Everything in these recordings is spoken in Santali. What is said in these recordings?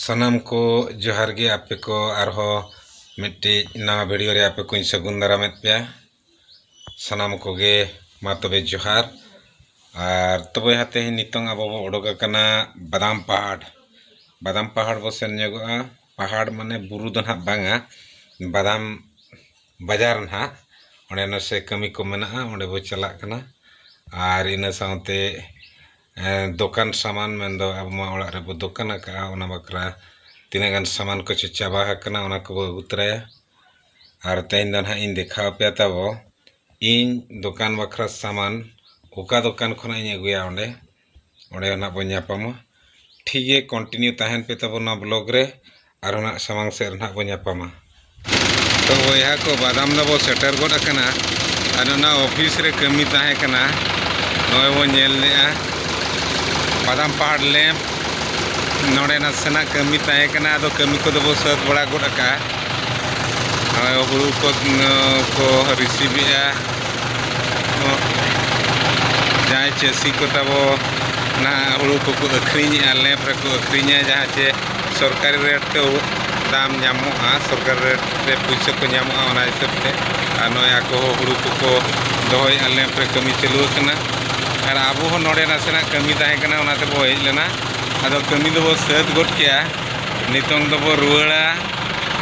ᱥᱟᱱᱟᱢ ᱠᱚ ᱡᱚᱦᱟᱨ ᱜᱮ ᱟᱯᱮ ᱠᱚ ᱟᱨᱦᱚᱸ ᱢᱤᱫᱴᱤᱡ ᱱᱟᱣᱟ ᱵᱷᱤᱰᱤᱭᱳ ᱨᱮ ᱟᱯᱮ ᱠᱚᱧ ᱥᱟᱹᱜᱩᱱ ᱫᱟᱨᱟᱢᱮᱫ ᱯᱮᱭᱟ ᱥᱟᱱᱟᱢ ᱠᱚᱜᱮ ᱢᱟ ᱛᱚᱵᱮ ᱡᱚᱦᱟᱨ ᱟᱨ ᱛᱚᱵᱮ ᱦᱟᱸᱜ ᱛᱮᱦᱮᱧ ᱱᱤᱛᱚᱝ ᱟᱵᱚ ᱵᱚ ᱚᱰᱚᱠ ᱟᱠᱟᱱᱟ ᱵᱟᱫᱟᱢ ᱯᱟᱦᱟᱲ ᱵᱟᱫᱟᱢ ᱯᱟᱦᱟᱲ ᱵᱚ ᱥᱮᱱ ᱧᱚᱜᱚᱜᱼᱟ ᱯᱟᱦᱟᱲ ᱢᱟᱱᱮ ᱵᱩᱨᱩ ᱫᱚ ᱦᱟᱸᱜ ᱵᱟᱝᱟ ᱵᱟᱫᱟᱢ ᱵᱟᱡᱟᱨ ᱱᱟᱦᱟᱜ ᱚᱸᱰᱮ ᱱᱟᱥᱮ ᱠᱟᱹᱢᱤ ᱠᱚ ᱢᱮᱱᱟᱜᱼᱟ ᱚᱸᱰᱮ ᱵᱚ ᱪᱟᱞᱟᱜ ᱠᱟᱱᱟ ᱟᱨ ᱤᱱᱟᱹ ᱥᱟᱶᱛᱮ ᱫᱚᱠᱟᱱ ᱥᱟᱢᱟᱱ ᱢᱮᱱ ᱫᱚ ᱟᱵᱚ ᱢᱟ ᱚᱲᱟᱜ ᱨᱮᱵᱚ ᱫᱚᱠᱟᱱ ᱟᱠᱟᱜᱼᱟ ᱚᱱᱟ ᱵᱟᱠᱷᱨᱟ ᱛᱤᱱᱟᱹᱜ ᱜᱟᱱ ᱥᱟᱢᱟᱱ ᱠᱚᱪᱚ ᱪᱟᱵᱟ ᱟᱠᱟᱱᱟ ᱚᱱᱟ ᱠᱚᱵᱚ ᱟᱹᱜᱩ ᱛᱚᱨᱟᱭᱟ ᱟᱨ ᱛᱮᱦᱮᱧ ᱫᱚ ᱱᱟᱦᱟᱜ ᱤᱧ ᱫᱮᱠᱷᱟᱣ ᱟᱯᱮᱭᱟ ᱛᱟᱵᱚ ᱤᱧ ᱫᱚᱠᱟᱱ ᱵᱟᱠᱷᱨᱟ ᱥᱟᱢᱟᱱ ᱚᱠᱟ ᱫᱚᱠᱟᱱ ᱠᱷᱚᱱᱟᱜ ᱤᱧ ᱟᱹᱜᱩᱭᱟ ᱚᱸᱰᱮ ᱚᱸᱰᱮ ᱱᱟᱜ ᱵᱚᱱ ᱧᱟᱯᱟᱢᱟ ᱴᱷᱤᱠ ᱜᱮᱭᱟ ᱠᱚᱱᱴᱤᱱᱤᱭᱩ ᱛᱟᱦᱮᱱ ᱯᱮ ᱛᱟᱵᱚᱱ ᱱᱚᱣᱟ ᱵᱞᱚᱜᱽ ᱨᱮ ᱟᱨᱚ ᱱᱟᱜ ᱥᱟᱢᱟᱝ ᱥᱮᱫ ᱨᱮ ᱱᱟᱜ ᱵᱚᱱ ᱧᱟᱯᱟᱢᱟ ᱛᱚ ᱵᱚᱭᱦᱟ ᱠᱚ ᱵᱟᱫᱟᱢ ᱫᱚ ᱵᱚ ᱥᱮᱴᱮᱨ ᱜᱚᱫ ᱟᱠᱟᱱᱟ ᱟᱨ ᱚᱱᱟ ᱚᱯᱷᱤᱥ ᱨᱮ ᱠᱟᱹᱢᱤ ᱛᱟᱦᱮᱸ ᱠᱟᱱᱟ ᱱᱚᱜᱼᱚᱭ ᱵᱚᱱ ᱧᱮᱞ ᱞᱮᱜᱼᱟ ᱵᱟᱫᱟᱢ ᱯᱟᱦᱟᱲ ᱞᱮᱢᱯ ᱱᱚᱰᱮ ᱱᱟᱥᱮᱱᱟᱜ ᱠᱟᱹᱢᱤ ᱛᱟᱦᱮᱸ ᱠᱟᱱᱟ ᱟᱫᱚ ᱠᱟᱹᱢᱤ ᱠᱚᱫᱚ ᱵᱚ ᱥᱟᱹᱛ ᱵᱟᱲᱟ ᱜᱚᱫ ᱟᱠᱟᱜᱼᱟ ᱦᱩᱲᱩ ᱠᱚ ᱠᱚ ᱨᱤᱥᱤᱵᱷ ᱮᱜᱼᱟ ᱡᱟᱦᱟᱸᱭ ᱪᱟᱹᱥᱤ ᱠᱚ ᱛᱟᱵᱚ ᱚᱱᱟ ᱦᱩᱲᱩ ᱠᱚᱠᱚ ᱟᱹᱠᱷᱨᱤᱧᱮᱜᱼᱟ ᱞᱮᱵᱽ ᱨᱮᱠᱚ ᱟᱹᱠᱷᱨᱤᱧᱟ ᱡᱟᱦᱟᱸ ᱪᱮ ᱥᱚᱨᱠᱟᱨᱤ ᱨᱮᱴ ᱛᱮ ᱫᱟᱢ ᱧᱟᱢᱚᱜᱼᱟ ᱥᱚᱨᱠᱟᱨᱤ ᱨᱮᱴ ᱨᱮ ᱯᱩᱭᱥᱟᱹ ᱠᱚ ᱧᱟᱢᱚᱜᱼᱟ ᱚᱱᱟ ᱦᱤᱥᱟᱹᱵ ᱛᱮ ᱟᱨ ᱱᱚᱜᱼᱚᱭ ᱟᱠᱚ ᱦᱚᱸ ᱦᱩᱲᱩ ᱠᱚᱠᱚ ᱫᱚᱦᱚᱭᱮᱜᱼᱟ ᱞᱮᱵᱽ ᱨᱮ ᱠᱟᱹᱢᱤ ᱪᱟᱹᱞᱩ ᱟᱠᱟᱱᱟ ᱟᱨ ᱟᱵᱚ ᱦᱚᱸ ᱱᱚᱰᱮ ᱱᱟᱥᱮᱱᱟᱜ ᱠᱟᱹᱢᱤ ᱛᱟᱦᱮᱸ ᱠᱟᱱᱟ ᱚᱱᱟ ᱛᱮᱵᱚ ᱦᱮᱡ ᱞᱮᱱᱟ ᱟᱫᱚ ᱠᱟᱹᱢᱤ ᱫᱚᱵᱚ ᱥᱟᱹᱛ ᱜᱚᱫ ᱠᱮᱜᱼᱟ ᱱᱤᱛᱚᱝ ᱫᱚᱵᱚ ᱨᱩᱣᱟᱹᱲᱟ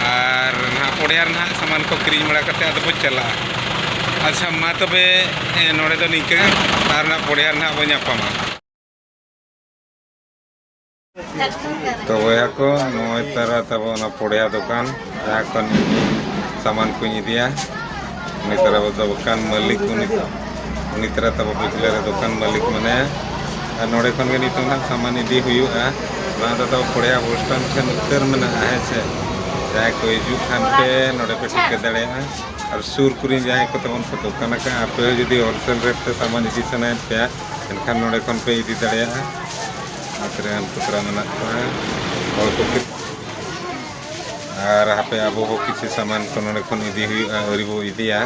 ᱟᱨ ᱱᱟᱦᱟᱜ ᱯᱚᱲᱭᱟ ᱨᱮ ᱱᱟᱦᱟᱜ ᱥᱟᱢᱟᱱ ᱠᱚ ᱠᱤᱨᱤᱧ ᱵᱟᱲᱟ ᱠᱟᱛᱮᱫ ᱟᱫᱚ ᱵᱚ ᱪᱟᱞᱟᱜᱼᱟ ᱟᱪᱪᱷᱟ ᱢᱟ ᱛᱚᱵᱮ ᱱᱚᱰᱮ ᱫᱚ ᱱᱤᱝᱠᱟᱹ ᱜᱮ ᱟᱨ ᱱᱟᱜ ᱯᱚᱨᱮ ᱟᱨ ᱱᱟᱜ ᱵᱚ ᱧᱟᱯᱟᱢᱟ ᱛᱚ ᱵᱚᱭᱦᱟ ᱠᱚ ᱱᱚᱜᱼᱚᱭ ᱛᱟᱨᱟ ᱛᱟᱵᱚ ᱚᱱᱟ ᱯᱚᱲᱭᱟ ᱫᱚᱠᱟᱱ ᱡᱟᱦᱟᱸ ᱠᱷᱚᱱ ᱥᱟᱢᱟᱱ ᱠᱚᱧ ᱤᱫᱤᱭᱟ ᱩᱱᱤ ᱛᱟᱨᱟ ᱵᱚ ᱫᱚᱠᱟᱱ ᱢᱟᱹᱞᱤᱠ ᱩᱱᱤ ᱩᱱᱤ ᱛᱟᱨᱟ ᱛᱟᱵᱚ ᱯᱤᱪᱷᱞᱮ ᱨᱮ ᱫᱚᱠᱟᱱ ᱢᱟᱹᱞᱤᱠ ᱢᱮᱱᱟᱭᱟ ᱟᱨ ᱱᱚᱰᱮ ᱠᱷᱚᱱ ᱜᱮ ᱱᱤᱛᱚᱜ ᱱᱟᱜ ᱥᱟᱢᱟᱱ ᱤᱫᱤ ᱦᱩᱭᱩᱜᱼᱟ ᱱᱚᱣᱟ ᱫᱚ ᱛᱟᱵᱚ ᱯᱚᱲᱭᱟ ᱵᱚᱥ ᱥᱴᱮᱱᱰ ᱴᱷᱮᱱ ᱩᱛᱟᱹᱨ ᱢᱮᱱᱟᱜᱼᱟ ᱦᱮᱸ ᱥᱮ ᱡᱟᱦᱟᱸᱭ ᱠᱚ ᱦᱤᱡᱩᱜ ᱠᱷᱟᱱ ᱯᱮ ᱱᱚᱰᱮ ᱯᱮ ᱴᱷᱤᱠᱟᱹ ᱫᱟᱲᱮᱭᱟᱜᱼᱟ ᱟᱨ ᱥᱩᱨ ᱠᱚᱨᱮᱱ ᱡᱟᱦᱟᱸᱭ ᱠᱚ ᱛᱟᱵᱚᱱ ᱠᱚ ᱫᱚᱠᱟᱱ ᱟᱠᱟᱫᱼᱟ ᱟᱯᱮ ᱦᱚᱸ ᱡᱩᱫᱤ ᱦᱳᱞᱥᱮᱞ ᱨᱮᱴ ᱛᱮ ᱥᱟᱢᱟᱱ ᱤᱫᱤ ᱥᱟᱱᱟᱭᱮᱫ ᱯᱮᱭᱟ ᱮᱱᱠᱷᱟᱱ ᱱᱚᱰᱮ ᱠᱷᱚᱱ ᱯᱮ ᱤᱫᱤ ᱫᱟᱲᱮᱭᱟᱜᱼᱟ ᱱᱚᱛᱮ ᱨᱮ ᱟᱞ ᱠᱚᱛᱨᱟ ᱢᱮᱱᱟᱜ ᱠᱚᱣᱟ ᱦᱚᱲ ᱠᱚ ᱟᱨ ᱦᱟᱯᱮ ᱟᱵᱚ ᱦᱚᱸ ᱠᱤᱪᱷᱩ ᱥᱟᱢᱟᱱ ᱠᱚ ᱱᱚᱰᱮ ᱠᱷᱚᱱ ᱤᱫᱤ ᱦᱩᱭᱩᱜᱼᱟ ᱟᱹᱣᱨᱤ ᱵᱚ ᱤᱫᱤᱭᱟ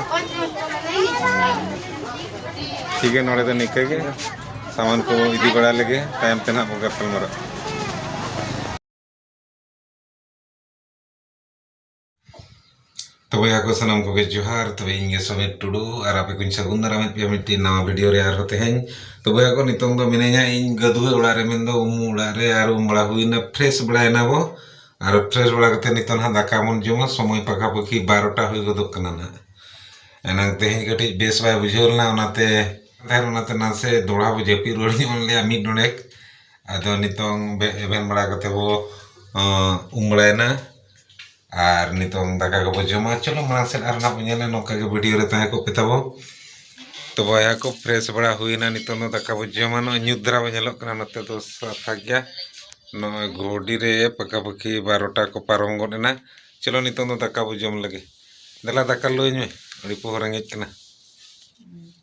ᱴᱷᱤᱠ ᱜᱮᱭᱟ ᱱᱚᱰᱮ ᱫᱚ ᱱᱤᱝᱠᱟᱹ ᱜᱮ ᱥᱟᱢᱟᱱ ᱠᱚ ᱤᱫᱤ ᱵᱟᱲᱟ ᱞᱮᱜᱮ ᱛᱟᱭᱚᱢ ᱛᱮ ᱱᱟᱦᱟᱜ ᱵᱚ ᱜᱟᱯᱟᱞᱢᱟᱨᱟᱜᱼᱟ ᱛᱚᱵᱮ ᱟᱠᱚ ᱥᱟᱱᱟᱢ ᱠᱚᱜᱮ ᱡᱚᱦᱟᱨ ᱛᱚᱵᱮ ᱤᱧ ᱜᱮ ᱥᱚᱢᱤᱨ ᱴᱩᱰᱩ ᱟᱨ ᱟᱯᱮ ᱠᱚᱧ ᱥᱟᱹᱜᱩᱱ ᱫᱟᱨᱟᱢᱮᱫ ᱯᱮᱭᱟ ᱢᱤᱫᱴᱤᱡ ᱱᱟᱣᱟ ᱵᱷᱤᱰᱤᱭᱳ ᱨᱮ ᱟᱨᱦᱚᱸ ᱛᱮᱦᱮᱧ ᱛᱚᱵᱮ ᱟᱠᱚ ᱱᱤᱛᱚᱝ ᱫᱚ ᱢᱤᱱᱟᱹᱧᱟ ᱤᱧ ᱜᱟᱹᱫᱩᱣᱟᱹ ᱚᱲᱟᱜ ᱨᱮ ᱢᱮᱱᱫᱚ ᱩᱢᱩ ᱚᱲᱟᱜ ᱨᱮ ᱟᱨ ᱩᱢ ᱵᱟᱲᱟ ᱦᱩᱭᱱᱟ ᱯᱷᱨᱮᱥ ᱵᱟᱲᱟᱭᱮᱱᱟ ᱵᱚ ᱟᱨ ᱯᱷᱨᱮᱥ ᱵᱟᱲᱟ ᱠᱟᱛᱮ ᱱᱤᱛᱚᱝ ᱦᱟᱸᱜ ᱫᱟᱠᱟ ᱵᱚᱱ ᱡᱚᱢᱟ ᱥᱚᱢᱚᱭ ᱯᱟᱠᱷᱟ ᱯᱟᱹᱠᱷᱤ ᱵᱟᱨᱚᱴᱟ ᱦᱩᱭ ᱜᱚᱫᱚᱜ ᱠᱟᱱᱟ ᱱᱟᱜ ᱮᱱᱟᱝ ᱛᱮᱦᱮᱧ ᱠᱟᱹᱴᱤᱡ ᱵᱮᱥ ᱵᱟᱭ ᱵᱩᱡᱷᱟᱹᱣ ᱞᱮᱱᱟ ᱚᱱᱟᱛᱮ ᱛᱟᱦᱮᱱ ᱚᱱᱟᱛᱮ ᱱᱟᱥᱮ ᱫᱚᱦᱲᱟ ᱵᱚ ᱡᱟᱹᱯᱤᱫ ᱨᱩᱣᱟᱹᱲ ᱧᱚᱜ ᱞᱮᱭᱟ ᱢᱤᱫ ᱰᱚᱸᱰᱮᱠ ᱟᱫᱚ ᱱᱤᱛᱚᱝ ᱮᱵᱷᱮᱱ ᱵᱟᱲᱟ ᱠᱟᱛᱮ ᱵᱚ ᱩᱢ ᱵᱟᱲᱟᱭᱮᱱᱟ ᱟᱨ ᱱᱤᱛᱚᱝ ᱫᱟᱠᱟ ᱠᱚᱵᱚᱱ ᱡᱚᱢᱟ ᱪᱚᱞᱚ ᱢᱟᱲᱟᱝ ᱥᱮᱫ ᱟᱨ ᱦᱟᱸᱜ ᱵᱚᱱ ᱧᱮᱞᱟ ᱱᱚᱝᱠᱟ ᱜᱮ ᱵᱷᱤᱰᱤᱭᱳ ᱨᱮ ᱛᱟᱦᱮᱸ ᱠᱚᱜ ᱯᱮ ᱛᱟᱵᱚᱱ ᱛᱚ ᱵᱚᱭᱦᱟ ᱠᱚ ᱯᱷᱨᱮᱥ ᱵᱟᱲᱟ ᱦᱩᱭᱱᱟ ᱱᱤᱛᱚᱝ ᱫᱚ ᱫᱟᱠᱟ ᱵᱚᱱ ᱡᱚᱢᱟ ᱱᱚᱜᱼᱚᱭ ᱧᱩᱛ ᱫᱷᱟᱨᱟ ᱵᱚᱱ ᱧᱮᱞᱚᱜ ᱠᱟᱱᱟ ᱱᱚᱛᱮ ᱫᱚ ᱥᱟᱯᱷᱟ ᱜᱮᱭᱟ ᱱᱚᱜᱼᱚᱭ ᱜᱷᱩᱰᱤ ᱨᱮ ᱯᱟᱠᱟ ᱯᱟᱠᱤ ᱵᱟᱨᱚᱴᱟ ᱠᱚ ᱯᱟᱨᱚᱢ ᱜᱚᱫ ᱮᱱᱟ ᱪᱚᱞᱚ ᱱᱤᱛᱚᱝ ᱫᱚ ᱫᱟᱠᱟ ᱵᱚᱱ ᱡᱚᱢ ᱞᱮᱜᱮ ᱫᱮᱞᱟ ᱫᱟᱠᱟ ᱞᱩ ᱟᱹᱧ ᱢᱮ ᱟᱹᱰᱤ ᱯᱚᱦᱚ ᱨᱮᱸᱜᱮᱡ ᱠᱟᱱᱟ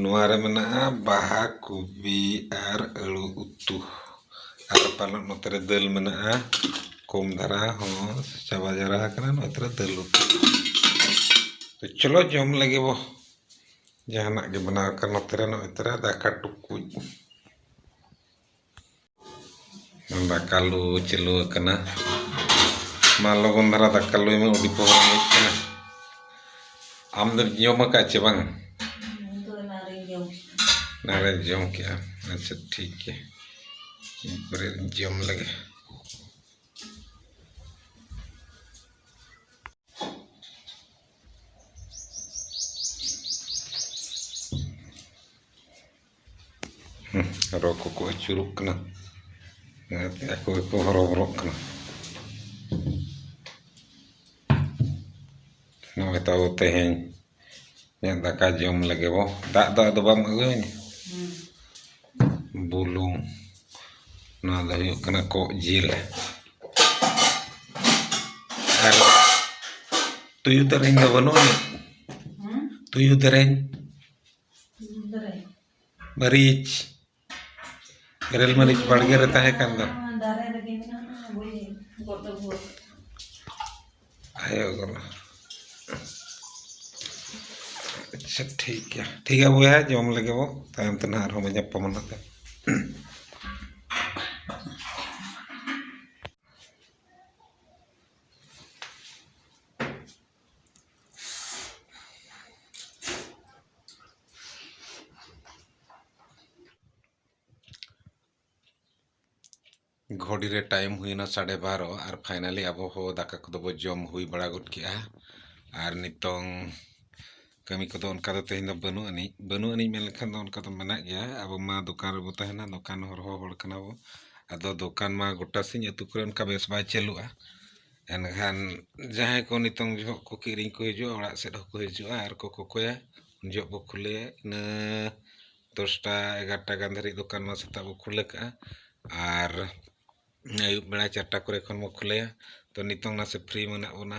ᱱᱚᱣᱟ ᱨᱮ ᱢᱮᱱᱟᱜᱼᱟ ᱵᱟᱦᱟ ᱠᱚᱯᱤ ᱟᱨ ᱟᱹᱞᱩ ᱩᱛᱩ ᱟᱨ ᱯᱟᱞᱮᱫ ᱱᱚᱛᱮ ᱨᱮ ᱫᱟᱹᱞ ᱢᱮᱱᱟᱜᱼᱟ ᱠᱚᱢ ᱫᱷᱟᱨᱟ ᱦᱚᱸ ᱪᱟᱵᱟ ᱡᱟᱣᱨᱟ ᱟᱠᱟᱱᱟ ᱱᱚᱛᱮ ᱨᱮ ᱫᱟᱹᱞ ᱩᱛᱩ ᱛᱚ ᱪᱚᱞᱚ ᱡᱚᱢ ᱞᱮᱜᱮ ᱵᱚ ᱡᱟᱦᱟᱱᱟᱜ ᱜᱮ ᱵᱮᱱᱟᱣ ᱟᱠᱟᱱ ᱱᱚᱛᱮ ᱨᱮ ᱱᱚᱜᱼᱚᱭ ᱛᱚᱨᱟ ᱫᱟᱠᱟ ᱴᱩᱠᱩᱡ ᱫᱟᱠᱟ ᱞᱩ ᱪᱟᱹᱞᱩ ᱟᱠᱟᱱᱟ ᱢᱟ ᱞᱚᱜᱚᱱ ᱫᱷᱟᱨᱟ ᱫᱟᱠᱟ ᱞᱩᱭ ᱢᱮ ᱟᱹᱰᱤ ᱯᱚᱦᱚᱨ ᱦᱮᱡ ᱠᱟᱱᱟ ᱟᱢ ᱫᱚ ᱡᱚᱢ ᱟᱠᱟᱫ ᱪᱮ ᱵᱟᱝ ᱱᱟᱨᱮ ᱡᱚᱢ ᱠᱮᱜᱼᱟ ᱟᱪᱪᱷᱟ ᱴᱷᱤᱠ ᱜᱮᱭᱟ ᱯᱚᱨᱮ ᱡᱚᱢ ᱞᱮᱜᱮ ᱨᱚ ᱠᱚᱠᱚ ᱟᱹᱪᱩᱨᱚᱜ ᱠᱟᱱᱟ ᱚᱱᱟᱛᱮ ᱟᱠᱚ ᱜᱮᱠᱚ ᱦᱚᱨᱚᱵᱚᱨᱚᱜ ᱠᱟᱱᱟ ᱱᱚᱜᱼᱚᱭ ᱛᱟᱵᱚ ᱛᱮᱦᱮᱧ ᱤᱧᱟᱹᱜ ᱫᱟᱠᱟ ᱡᱚᱢ ᱞᱮᱜᱮ ᱵᱚ ᱫᱟᱜ ᱫᱚ ᱟᱫᱚ ᱵᱟᱢ ᱟᱹᱜᱩᱭᱟᱹᱧᱟ ᱵᱩᱞᱩᱝ ᱱᱚᱣᱟ ᱫᱚ ᱦᱩᱭᱩᱜ ᱠᱟᱱᱟ ᱠᱚᱜ ᱡᱤᱞ ᱟᱨ ᱛᱩᱭᱩ ᱫᱮᱨᱮᱧ ᱫᱚ ᱵᱟᱹᱱᱩᱜ ᱟᱹᱱᱤᱡ ᱛᱩᱭᱩ ᱫᱮᱨᱮᱧ ᱢᱟᱹᱨᱤᱪ ᱵᱮᱨᱮᱞ ᱢᱟᱹᱨᱤᱪ ᱵᱟᱲᱜᱮ ᱨᱮ ᱛᱟᱦᱮᱸ ᱠᱟᱱ ᱫᱚ ᱟᱭᱳ ᱜᱚᱨᱚ ᱟᱪᱪᱷᱟ ᱴᱷᱤᱠ ᱜᱮᱭᱟ ᱴᱷᱤᱠ ᱜᱮᱭᱟ ᱵᱚᱭᱦᱟ ᱡᱚᱢ ᱞᱮᱜᱮ ᱵᱚ ᱛᱟᱭᱚᱢ ᱛᱮ ᱱᱟᱦᱟᱜ ᱟᱨᱦᱚᱸ ᱵᱚ ᱧᱟᱯᱟᱢᱟ ᱱᱟᱜ ᱜᱷᱚᱲᱤ ᱨᱮ ᱴᱟᱭᱤᱢ ᱦᱩᱭᱱᱟ ᱥᱟᱲᱮ ᱵᱟᱨᱚ ᱟᱨ ᱯᱷᱟᱭᱱᱟᱞᱤ ᱟᱵᱚ ᱦᱚᱸ ᱫᱟᱠᱟ ᱠᱚᱫᱚ ᱵᱚ ᱡᱚᱢ ᱦᱩᱭ ᱵᱟᱲᱟ ᱜᱚᱫ ᱠᱮᱜᱼᱟ ᱟᱨ ᱱᱤᱛᱚᱝ ᱠᱟᱹᱢᱤ ᱠᱚᱫᱚ ᱚᱱᱠᱟ ᱫᱚ ᱛᱮᱦᱮᱧ ᱫᱚ ᱵᱟᱹᱱᱩᱜ ᱟᱹᱱᱤᱡ ᱵᱟᱹᱱᱩᱜ ᱟᱹᱱᱤᱡ ᱢᱮᱱ ᱞᱮᱠᱷᱟᱱ ᱫᱚ ᱚᱱᱠᱟ ᱫᱚ ᱢᱮᱱᱟᱜ ᱜᱮᱭᱟ ᱟᱵᱚ ᱢᱟ ᱫᱚᱠᱟᱱ ᱨᱮᱵᱚ ᱛᱟᱦᱮᱱᱟ ᱫᱚᱠᱟᱱ ᱦᱚᱲ ᱦᱚᱸ ᱦᱚᱲ ᱠᱟᱱᱟ ᱵᱚ ᱟᱫᱚ ᱫᱚᱠᱟᱱ ᱢᱟ ᱜᱚᱴᱟ ᱥᱤᱧ ᱟᱛᱳ ᱠᱚᱨᱮ ᱚᱱᱠᱟ ᱵᱮᱥ ᱵᱟᱭ ᱪᱟᱹᱞᱩᱜᱼᱟ ᱮᱱᱠᱷᱟᱱ ᱡᱟᱦᱟᱸᱭ ᱠᱚ ᱱᱤᱛᱚᱝ ᱡᱚᱦᱚᱜ ᱠᱚ ᱠᱤᱨᱤᱧ ᱠᱚ ᱦᱤᱡᱩᱜᱼᱟ ᱚᱲᱟᱜ ᱥᱮᱫ ᱦᱚᱸᱠᱚ ᱦᱤᱡᱩᱜᱼᱟ ᱟᱨ ᱠᱚ ᱠᱚᱠᱚᱭᱟ ᱩᱱ ᱡᱚᱦᱚᱜ ᱵᱚ ᱠᱷᱩᱞᱟᱹᱭᱟ ᱤᱱᱟᱹ ᱫᱚᱥᱴᱟ ᱮᱜᱟᱨᱚᱴᱟ ᱜᱟᱱ ᱫᱷᱟᱹᱨᱤᱡ ᱫᱚᱠᱟᱱ ᱢᱟ ᱥᱮᱛᱟᱜ ᱵᱚ ᱠᱷᱩᱞᱟᱹᱣ ᱠᱟᱜᱼᱟ ᱟᱨ ᱟᱹᱭᱩᱵ ᱵᱮᱲᱟ ᱪᱟᱨᱴᱟ ᱠᱚᱨᱮ ᱠᱷᱚᱱ ᱵᱚ ᱠᱷᱩᱞᱟᱹᱭᱟ ᱛᱚ ᱱᱤᱛᱚᱝ ᱱᱟᱥᱮ ᱯᱷᱨᱤ ᱢᱮᱱᱟᱜ ᱵᱚᱱᱟ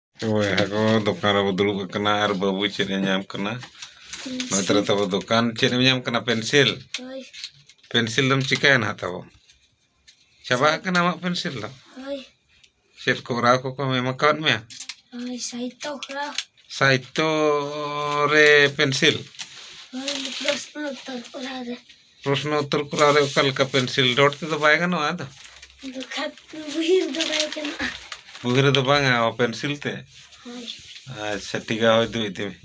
ᱵᱚᱭᱦᱟ ᱠᱚ ᱫᱚᱠᱟᱱ ᱨᱮᱵᱚ ᱫᱩᱲᱩᱵ ᱟᱠᱟᱱᱟ ᱟᱨ ᱵᱟᱹᱵᱩ ᱪᱮᱫ ᱮ ᱧᱟᱢ ᱠᱟᱱᱟ ᱱᱚᱛᱮ ᱨᱮ ᱛᱟᱵᱚ ᱫᱚᱠᱟᱱ ᱪᱮᱫ ᱮᱢ ᱧᱟᱢ ᱠᱟᱱᱟ ᱯᱮᱱᱥᱤᱞ ᱦᱳᱭ ᱯᱮᱱᱥᱤᱞ ᱫᱚᱢ ᱪᱤᱠᱟᱹᱭᱟ ᱱᱟᱦᱟᱜ ᱛᱟᱵᱚ ᱪᱟᱵᱟ ᱟᱠᱟᱱᱟ ᱟᱢᱟᱜ ᱯᱮᱱᱥᱤᱞ ᱫᱚ ᱦᱳᱭ ᱪᱮᱫ ᱠᱚᱨᱟᱣ ᱠᱚᱠᱚ ᱮᱢ ᱟᱠᱟᱫ ᱢᱮᱭᱟ ᱦᱳᱭ ᱥᱟᱦᱤᱛᱛᱚ ᱠᱚᱨᱟ ᱥᱟᱦᱤᱛᱛᱚ ᱨᱮ ᱯᱮᱱᱥᱤᱞ ᱦᱳᱭ ᱯᱨᱚᱥᱱᱚ ᱩᱛᱛᱚᱨ ᱠᱚᱨᱟ ᱨᱮ ᱯᱨᱚᱥᱱᱚ ᱩᱛᱛᱚᱨ ᱠᱚᱨᱟᱣ ᱨᱮ ᱚᱠᱟ ᱞᱮᱠᱟ ᱯᱮᱱᱥᱤᱞ ᱰᱚᱴ ᱛᱮᱫᱚ ᱵᱟᱭ ᱜᱟᱱᱚᱜᱼᱟ ᱟᱫᱚ ᱵᱩᱦᱤ ᱨᱮᱫᱚ ᱵᱟᱭ ᱜᱟᱱᱚᱜᱼᱟ ᱵᱩᱦᱤ ᱨᱮᱫᱚ ᱵᱟᱝᱟ ᱯᱮᱱᱥᱤᱞ ᱛᱮ ᱟᱪᱪᱷᱟ ᱴᱷᱤᱠ ᱜᱮᱭᱟ ᱦᱳᱭ ᱫᱩ ᱤᱫᱤ ᱢᱮ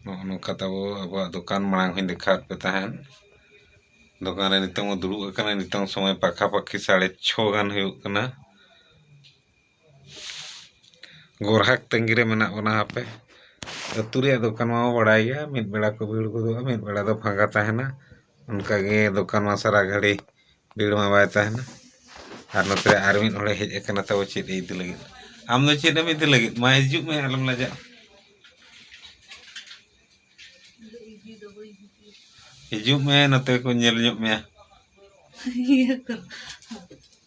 ᱱᱚᱜᱼᱚ ᱱᱚᱝᱠᱟ ᱛᱟᱵᱚ ᱟᱵᱚᱣᱟᱜ ᱫᱚᱠᱟᱱ ᱢᱟᱲᱟᱝ ᱦᱚᱧ ᱫᱮᱠᱷᱟᱣᱟᱫ ᱯᱮ ᱛᱟᱦᱮᱸᱫ ᱫᱚᱠᱟᱱ ᱨᱮ ᱱᱤᱛᱚᱝ ᱫᱩᱲᱩᱵ ᱟᱠᱟᱱᱟᱹᱧ ᱱᱤᱛᱚᱝ ᱥᱚᱢᱚᱭ ᱯᱟᱠᱷᱟ ᱯᱟᱠᱷᱤ ᱥᱟᱲᱮ ᱪᱷᱚ ᱜᱟᱱ ᱦᱩᱭᱩᱜ ᱠᱟᱱᱟ ᱜᱚᱨᱦᱟᱠ ᱛᱟᱺᱜᱤ ᱨᱮ ᱢᱮᱱᱟᱜ ᱵᱚᱱᱟ ᱦᱟᱯᱮ ᱟᱹᱛᱩ ᱨᱮᱭᱟᱜ ᱫᱚᱠᱟᱱ ᱢᱟᱵᱚ ᱵᱟᱲᱟᱭ ᱜᱮᱭᱟ ᱢᱤᱫ ᱵᱮᱲᱟ ᱠᱚ ᱵᱷᱤᱲ ᱜᱚᱫᱚᱜᱼᱟ ᱢᱤᱫ ᱵᱮᱲᱟ ᱫᱚ ᱯᱷᱟᱸᱠᱟ ᱛᱟᱦᱮᱱᱟ ᱚᱱᱠᱟ ᱜᱮ ᱫᱚᱠᱟᱱ ᱢᱟ ᱥᱟᱨᱟ ᱜᱷᱟᱹᱲᱤ ᱵᱷᱤᱲ ᱢᱟ ᱵᱟᱭ ᱛᱟᱦᱮᱱᱟ ᱟᱨ ᱱᱚᱛᱮ ᱨᱮ ᱟᱨ ᱢᱤᱫ ᱦᱚᱲᱮ ᱦᱮᱡ ᱟᱠᱟᱱᱟ ᱛᱟᱵᱚ ᱪᱮᱫ ᱮ ᱤᱫᱤ ᱞᱟᱹᱜᱤᱫ ᱟᱢ ᱫᱚ ᱪᱮᱫ ᱮᱢ ᱤᱫᱤ ᱞᱟᱹᱜᱤᱫ ᱢᱟ ᱦᱤᱡᱩᱜ ᱢᱮ ᱟᱞᱚᱢ ᱞᱟᱡᱟᱜᱼᱟ ᱦᱤᱡᱩᱜ ᱢᱮ ᱱᱚᱛᱮ ᱠᱚ ᱧᱮᱞ ᱧᱚᱜ ᱢᱮᱭᱟ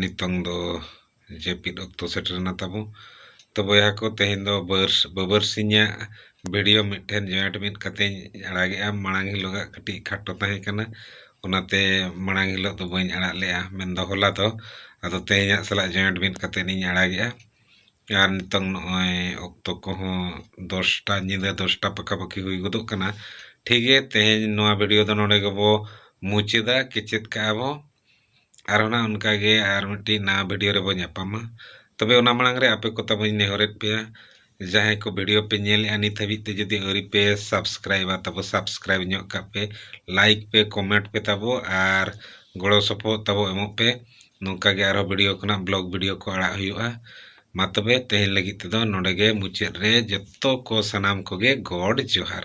ᱱᱤᱛᱚᱝ ᱫᱚ ᱡᱟᱹᱯᱤᱫ ᱚᱠᱛᱚ ᱥᱮᱴᱮᱨᱮᱱᱟ ᱛᱟᱵᱚ ᱛᱚ ᱵᱚᱭᱦᱟ ᱠᱚ ᱛᱮᱦᱮᱧ ᱫᱚ ᱵᱟᱹᱨ ᱵᱟᱹᱵᱟᱹᱨ ᱥᱤᱧᱟᱜ ᱵᱷᱤᱰᱤᱭᱳ ᱢᱤᱫᱴᱷᱮᱱ ᱡᱚᱭᱮᱱᱴ ᱢᱤᱫ ᱠᱟᱛᱮᱧ ᱟᱲᱟᱜᱮᱜᱼᱟ ᱢᱟᱲᱟᱝ ᱦᱤᱞᱳᱜᱟᱜ ᱠᱟᱹᱴᱤᱡ ᱠᱷᱟᱴᱚ ᱛᱟᱦᱮᱸ ᱠᱟᱱᱟ ᱚᱱᱟᱛᱮ ᱢᱟᱲᱟᱝ ᱦᱤᱞᱳᱜ ᱫᱚ ᱵᱟᱹᱧ ᱟᱲᱟᱜ ᱞᱮᱜᱼᱟ ᱢᱮᱱᱫᱚ ᱦᱚᱞᱟ ᱫᱚ ᱟᱫᱚ ᱛᱮᱦᱮᱧᱟᱜ ᱥᱟᱞᱟᱜ ᱡᱚᱭᱮᱱᱴ ᱢᱤᱫ ᱠᱟᱛᱮᱫ ᱤᱧ ᱟᱲᱟᱜᱮᱜᱼᱟ ᱟᱨ ᱱᱤᱛᱚᱝ ᱱᱚᱜᱼᱚᱭ ᱚᱠᱛᱚ ᱠᱚᱦᱚᱸ ᱫᱚᱥᱴᱟ ᱧᱤᱫᱟᱹ ᱫᱚᱥᱴᱟ ᱯᱟᱠᱟ ᱯᱟᱠᱤ ᱦᱩᱭ ᱜᱚᱫᱚᱜ ᱠᱟᱱᱟ ᱴᱷᱤᱠ ᱜᱮᱭᱟ ᱛᱮᱦᱮᱧ ᱱᱚᱣᱟ ᱵᱷᱤᱰᱤᱭᱳ ᱫᱚ ᱱᱚᱰᱮ ᱜᱮᱵᱚ ᱢᱩᱪᱟᱹᱫᱟ ᱠᱮᱪᱮᱫ ᱠᱟᱜᱼᱟ ᱵᱚ ᱟᱨᱦᱚ ᱱᱟᱜ ᱚᱱᱠᱟ ᱜᱮ ᱟᱨ ᱢᱤᱫᱴᱤᱡ ᱱᱟᱣᱟ ᱵᱷᱤᱰᱤᱭᱳ ᱨᱮᱵᱚ ᱧᱟᱯᱟᱢᱟ ᱛᱚᱵᱮ ᱚᱱᱟ ᱢᱟᱲᱟᱝ ᱨᱮ ᱟᱯᱮ ᱠᱚ ᱛᱟᱵᱚᱧ ᱱᱮᱦᱚᱨᱮᱫ ᱯᱮᱭᱟ ᱡᱟᱦᱟᱸᱭ ᱠᱚ ᱵᱷᱤᱰᱤᱭᱳ ᱯᱮ ᱧᱮᱞᱮᱜᱼᱟ ᱱᱤᱛ ᱦᱟᱹᱵᱤᱡ ᱛᱮ ᱡᱩᱫᱤ ᱟᱹᱣᱨᱤ ᱯᱮ ᱥᱟᱵᱥᱠᱨᱟᱭᱤᱵᱟ ᱛᱟᱵᱚ ᱥᱟᱵᱥᱠᱨᱟᱭᱤᱵ ᱧᱚᱜ ᱠᱟᱜ ᱯᱮ ᱞᱟᱭᱤᱠ ᱯᱮ ᱠᱚᱢᱮᱱᱴ ᱯᱮ ᱛᱟᱵᱚ ᱟᱨ ᱜᱚᱲᱚ ᱥᱚᱯᱚᱦᱚᱫ ᱛᱟᱵᱚ ᱮᱢᱚᱜ ᱯᱮ ᱱᱚᱝᱠᱟ ᱜᱮ ᱟᱨᱦᱚᱸ ᱵᱷᱤᱰᱤᱭᱳ ᱠᱷᱚᱱᱟᱜ ᱵᱞᱚᱜ ᱵᱷᱤᱰᱤᱭᱳ ᱠᱚ ᱟᱲᱟᱜ ᱦᱩᱭᱩᱜᱼᱟ ᱢᱟ ᱛᱚᱵᱮ ᱛᱮᱦᱮᱧ ᱞᱟᱹᱜᱤᱫ ᱛᱮᱫᱚ ᱱᱚᱰᱮ ᱜᱮ ᱢᱩᱪᱟᱹᱫ ᱨᱮ ᱡᱚᱛᱚ ᱠᱚ ᱥᱟᱱᱟᱢ ᱠᱚᱜᱮ ᱜᱚᱰ ᱡᱚᱦᱟᱨ